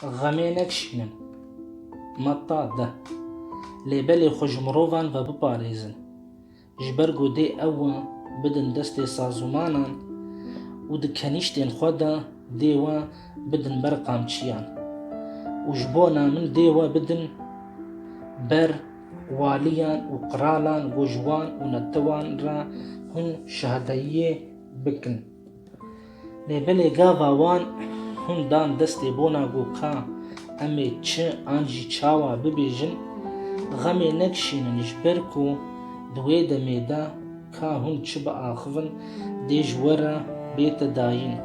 Xemê nekişînin. Me ta de. Lê belê xwe ji mirovan ve biparêzin. Ji ber ku dê ew wan bidin destê sazûmanan û di kenîştên xwe de dê we bidin ber qamçiyan. Û ji bona min dê we bidin ber waliyan û qiralan ku ji wan û netiwan re hûn şahidayiyê bikin. Lê belê gava wan hûn dan destê bona ku ka em ê çi an jî çawa bibêjin, xemê nekişînin ji ber ku di wê demê de ka hûn çi biaxivin dê ji we re bête dayîn.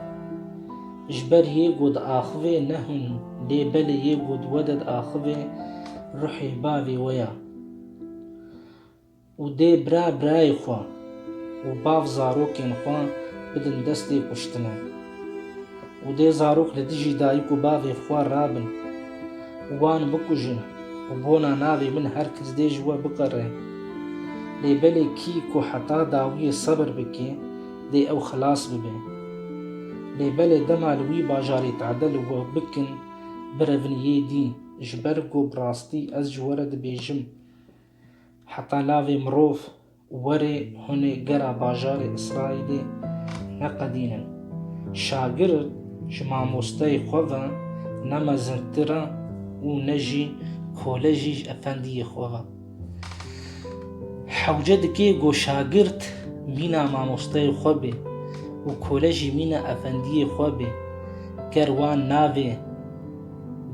Ji ber yê ku diaxivê ne hûn lê belê yê ku di we de diaxivê ruhê bavê we ye. Û dê bira birayê xwe û bav zarokên xwe bidin destê kuştinê. Û dê zarok li dijî dayik û bavê xwe rabin û wan bikujin û bona navê min her kes dê ji we biqere. Lê belê kî ku heta dawiyê sebir bike, dê ew xilas bibe. Lê belê dema li wî bajarê tade li we bikin, birevin yê dî, ji ber ku bi rastî ez ji we re dibêjim, Heta navê mirov were hunê gera bajarê Îsraîlê neqedînin. Şagird ji mamosteyê xwe ve ne mezindtir e û ne jî kole jî ji efendiyê xwe ve. Hewce dike ku şagird mîna mamosteyê xwe bê û kole jî mîna efendiyê xwe bê. Ger wan navê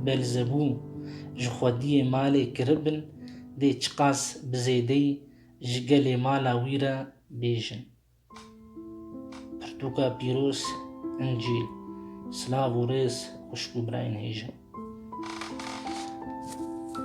Belzebû ji xwediyê malê kiribin, dê çiqas bi zêdeyî ji gelê mala wî re bêjin. Pirtûka pîroz, Încîl, silav û rêz xwişk û birayên hêja.